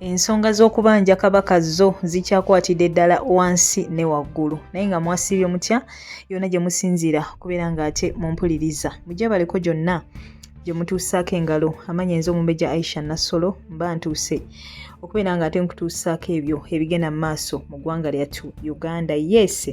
ensonga z'okubanja kabaka zo zikyakwatidde ddala wansi ne waggulu naye nga mwasiibye mutya yona gye musinziira kubeera ng'ate mumpuliriza mujebaleko gyonna gye mutuusaako engalo amanya enza omumbeja aisha nassolo mba ntuuse okubeera ng'ate nkutuusaako ebyo ebigenda mu maaso mu ggwanga lyattu uganda yeese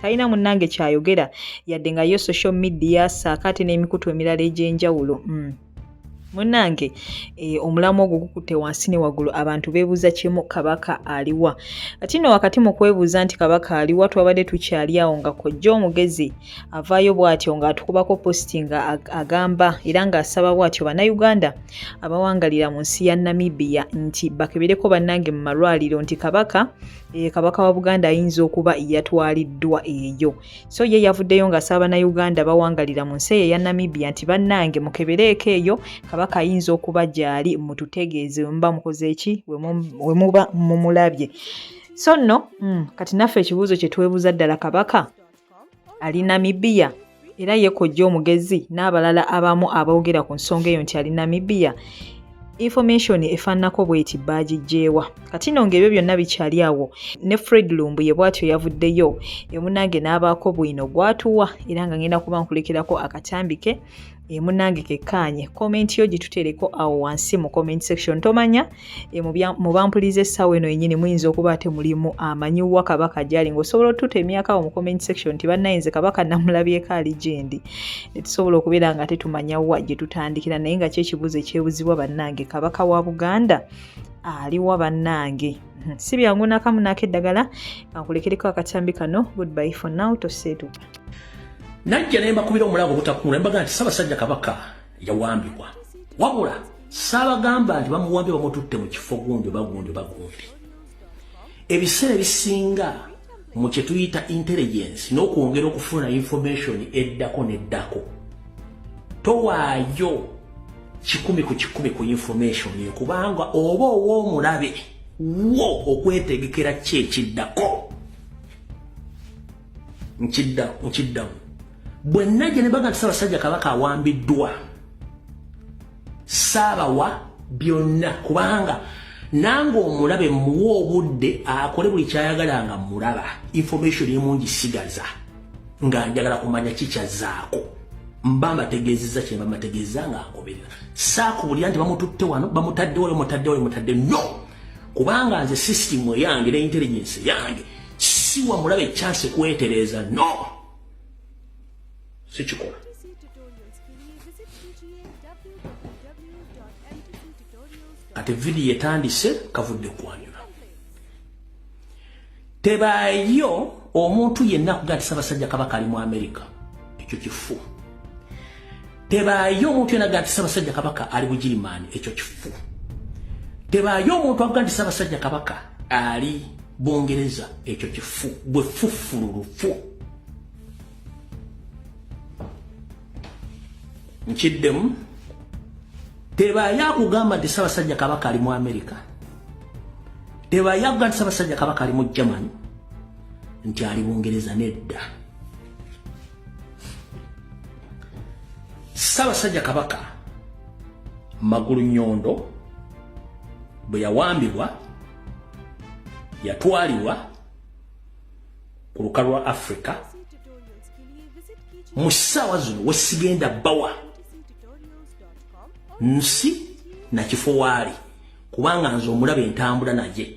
talina munnange kyayogera yadde nga yo social media saako ate n'emikutu emirala egy'enjawulo mm. munange e, omulamu ogwo gukutte wansi ne waggulu abantu beebuuza kimu kabaka aliwa kati nno wakati mu kwebuuza nti kabaka aliwa twabadde tukyali awo nga kojja omugezi avaayo bw'atyo ng'atukubako positi nga agamba era ng'asaba bw'atyo bannayuganda abawangalira mu nsi ya namibia nti bakebereko bannange mu malwaliro nti kabaka e, kabaka wa buganda ayinza okuba yatwaliddwa eyo so ye yavuddeyo nga saaba na uganda bawangalira mu nsi eyo eya namibia nti bannange mukebereeko eyo kabaka ayinza okuba gyali mututegeeze wemuba mukozeeki wemuba mumulabye so nno mm, kati naffe ekibuuzo kyetwebuuza ddala kabaka ali Namibia era ye kojja omugezi n'abalala abamu aboogera ku nsonga eyo nti ali Namibia information efaananako bweti baagijjeewa kati no ng'ebyo byonna bikyali awo ne fred lumbuye bwatyo yavuddeyo emunange n'abaako bwino gwatuwa era nga ngenda kuba nkulekerako akatambi ke e eh, munange kekkaanye komenti yo gitutereko awo wansi mu comment section tomanya e, mu bampuliza essaawa eno yennyini muyinza okuba ate mulimu amanyi wa kabaka gyali ngaosobola otututa emyaka awo mu comment section nti bannayinze kabaka namulabyeko ali gyendi netusobola okubeera nga tetumanya wa gye tutandikira naye nga kyekibuuzo ekyebuzibwa bannange kabaka wa buganda aliwa bannange hmm, si byangu nakamu naako eddagala kankulekereko akatambi kano goodby for now toseetuka najja ne mbakubira omulanga obutakuula ne mbagamba nti Ssaabasajja Kabaka yawambibwa wabula saabagamba nti bamuwambye bamututte mu kifo gundi oba gundi oba gundi ebiseera ebisinga mu kye tuyita intelligence n'okwongera okufuna information eddako n'eddako towaayo kikumi ku kikumi ku information eyo kubanga oba ow'omulabe wo okwetegekera kyekiddako nkiddamu bwe najja ne baga nti Ssaabasajja Kabaka awambiddwa saabawa byonna kubanga nange omulabe muwa obudde akole buli kyayagala nga mulaba information emungi sigaza nga njagala kumanya kikyazaako mba mbategeezeza kyemba mbategeeza nga agoberera saakubulira nti bamututte wano bamutaddewo bamutaddewo bamutadde no kubanga nze system eyange ne intelligence yange siwa mulabe chance kwetereeza no sikikola kati vidiyo etandise kavudde kwanyula tebaayo omuntu yenna kuga nti sabasajja kabaka ali mu amerika ekyo kifu tebaayo omuntu yena gati sabasajja kabaka ali bugirimaani ekyo kifu tebaayo omuntu avuga nti sabasajja kabaka ali bungereza ekyo kifu gwe fufululufu nkiddemu tebaayo akugamba nti sabasajja kabaka ali mu amerika tebaayo akuga nti sabasajja kabaka ali mu germany nti ali bungereza nedda Ssaabasajja Kabaka Magulu Nyondo bwe yawambibwa yatwalibwa ku luka lwa Afrika mu ssaawa zino wesigenda bawa nsi nakifo waali kubanga nze omulaba entambula naye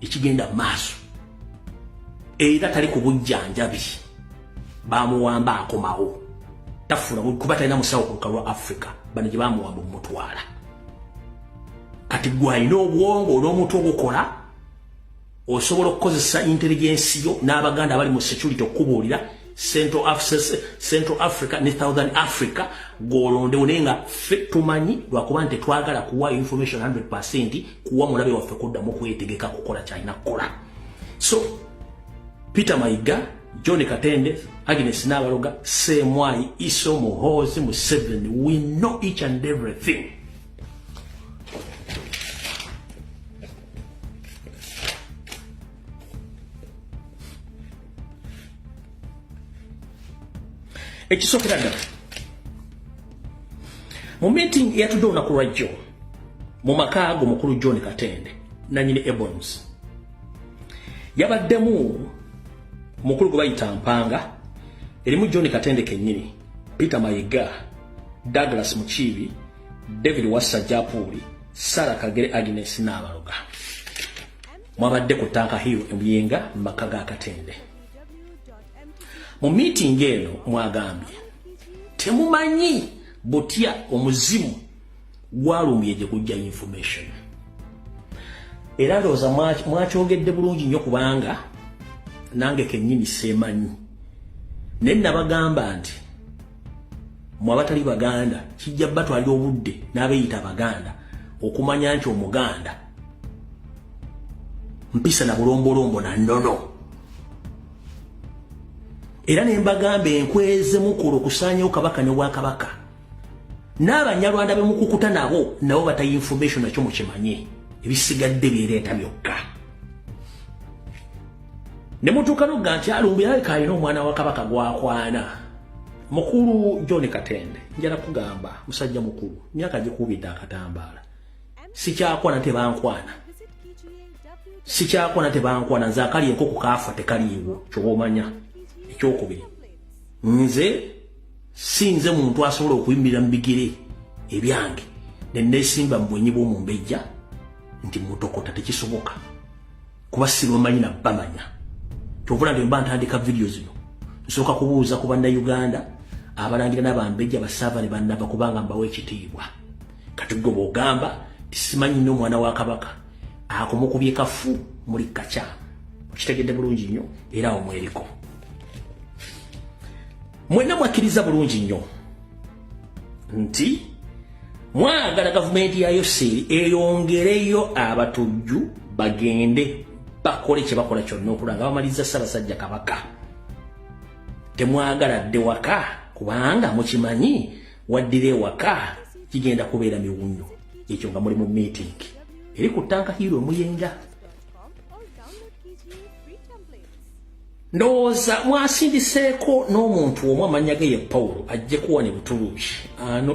ekigenda mu maaso era tali ku bujjanjabi bamuwamba akomawo tafuna kuba talina musawo ku lukalu lwa africa bano gye bamuwamba omutwala kati gwe alina obwongo n'omuntu ogukola osobola okukozesa intelligensi yo n'abaganda abali mu security okukubuulira central africa central africa ne southern africa golondewo naye nga ffe tumanyi lwakuba nti twagala kuwa information 100 kuwa mulabe waffe kuddamu kwetegeka kukola kyalina kukola so peter mayiga john katende agnes nabaloga semwayi iso muhozi museven we know each and everything ekisookera ddala mu meeting eyatudde olunaku lwa jjo mu maka ago mukulu john katende nanyini ebons yabaddemu mukulu gwe bayita mpanga erimu john katende kennyini peter mayiga douglas mukiibi david wassa japuuli sara kagere agnes n'abaloga Mwabadde ku Tanka Hill e Buyenga mu maka ga Katende. Mu miitingi eno mwagambye temumanyi butya omuzimu gwalumye gye gujja information era ndowooza mwakyogedde bulungi nnyo kubanga nange kennyini seemanyi naye nabagamba nti mwe abatali baganda kijja batwalira obudde n'abeeyita abaganda okumanya nti omuganda mpisa na bulombolombo na nnono era ne mbagamba enkweze mukulu okusaanyawo kabaka ne bwakabaka n'abanyarwanda be mukukuta nabo nabo batayi information nakyo mukimanye ebisigadde bireeta byokka ne mutuuka nogga nti alumbu yalabika alina omwana wa kabaka gwakwana mukulu john katende njala kugamba musajja mukulu myaka gikubidde akatambaala sikyakola tebankwana sikyakola tebankwana nze akali enkoko kaafa tekaliiwo kyoba omanya ekyokubiri nze sinze muntu asobola okuyimirira mu bigere ebyange nenesimba mu bwenyi bwomumbejja nti mutokota tekisoboka kuba sibamanyi na bamanya kyovula nti mba ntandika vidiyo zino nsooka kubuuza ku bannayuganda abalangira n'abambejja basaava ne bannava kubanga mbawo ekitiibwa kati gwe bwogamba tisimanyi nyo omwana wa kabaka akomukubye kafu muli kaca okitegedde bulungi nnyo era awo mweriko mwenna mwakkiriza bulungi nnyo nti mwagala gavumenti ya yoseeri eyongereyo abatujju bagende bakole kye bakola kyonna okula nga bamaliza ssabasajja kabaka temwagala dde waka kubanga mukimanyi waddira ewaka kigenda kubeera miwunyo ekyo nga muli mu meeting eri ku tanka hiiro omuyenga ndowooza mwasindiseeko n'omuntu omu amannya ge ye pawulo ajje kuwa ne butuluuki ano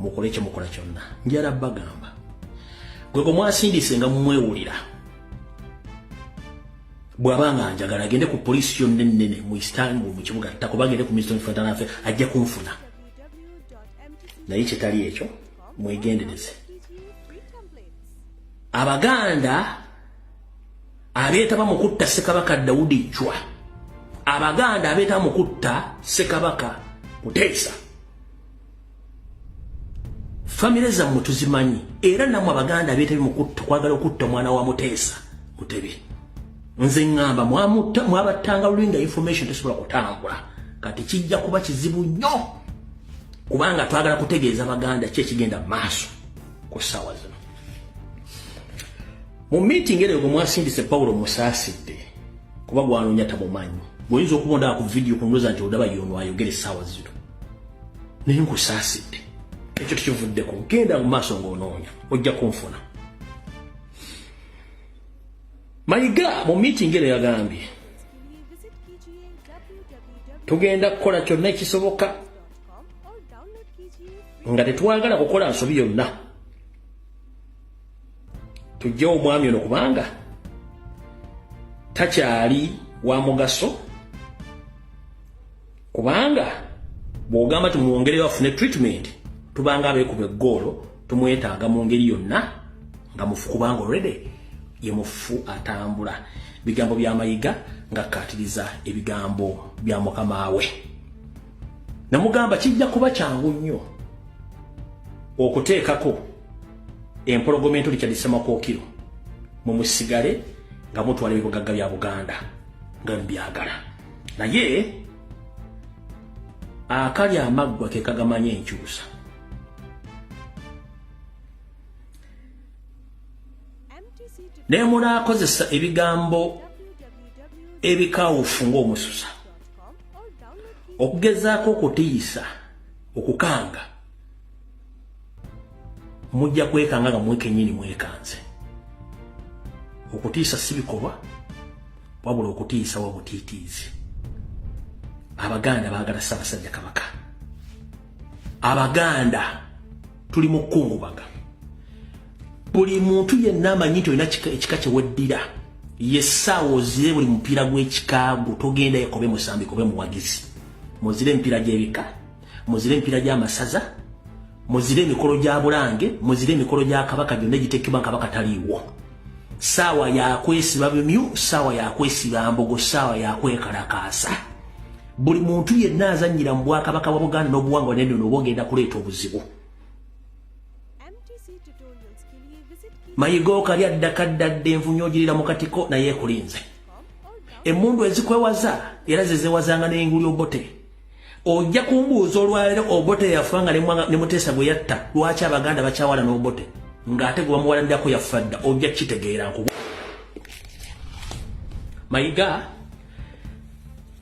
mukole kye mukola kyonna njala bagamba gwe gwe mwasindise nga mumwewulira bw'aba nga njagala agende ku poliisi yonna ennene mu istanbul mu kibuga ttako bagende ku ministry of internal affairs ajja kunfuna naye kitali ekyo mwegendereze abaganda abeetaba mu kutta ssekabaka dawudi jwa abaganda abeetaba mu kutta ssekabaka kuteesa famire zammwe tuzimanyi era namwe abaganda beetebi mukutta kwagala okutta omwana wa muteesa mutebi nze ŋŋamba mwamutta mwabattanga luli nga information tesobola kutambula kati kijja kuba kizibu nnyo kubanga twagala kutegeeza baganda ki ekigenda mu maaso ku ssaawa zino mu meeting eryo gwe mwasindise pawulo musaasidde kuba gwanoonya tamumanyi gweoyinza okubondaa ku vidiyo kunoza nti odaba yono ayogera essaawa zino naye nkusaasidde ekyo tekivuddeko genda mu maaso ng'onoonya ojja kunfuna mayiga mu miitingi eno yagambye tugenda kukola kyonna ekisoboka nga tetwagala kukola nsobi yonna tujjewo omwami ono kubanga takyali wa mugaso kubanga bw'ogamba tumwongere bafune treatment tubanga abeekuba eggoolo tumwetaaga mu ngeri yonna nga mufu kubanga olredy ye mufu atambula bigambo bya mayiga ngakkaatiriza ebigambo bya mukama we namugamba kijja kuba kyangu nnyo okuteekako empologoma ento likyadisemakookiro mumusigale nga mutwala ebibugagga bya buganda nga mubyagala naye akali amaggwa ke kagamanya enkyusa naye munaakozesa ebigambo ebikawufu ng'omususa okugezaako okutiisa okukanga mujja kwekanga nga mwekenyini mwekanze okutiisa si bikolwa wabula okutiisa wabutiitiizi abaganda baagala ssaabasajja kabaka abaganda tuli mu kukungubaga buli muntu yenna amanyi nti olina ekika kyeweddira yesaawa ozire buli mupiira gw'ekikaago togenda ekobe musambi kobe muwagizi muzire emipiira gy'ebika muzire emipira gy'amasaza muzire emikolo gya bulange muzire emikolo gya kabaka gyonna egiteekebwa kabaka taliiwo saawa yakwesiba bimyu saawa yakwesiba mbogo saawa yakwekalakaasa buli muntu yenna azannyira mu bwakabaka bwa buganda n'obuwangwa neno nooba ogenda kuleeta obuzibu mayiga okali addakaddadde envunyo ogirira mu katiko naye ekulinze emundu ezikwewaza era zezewazanga n'enguli obote ojja kumbuuza olwaleero obote yafa nga ne muteesa gwe yatta lwaki abaganda bakyawala n'obote ng'ate gwe bamuwalanirako yaffa dda ojja kukitegeera nkubu mayiga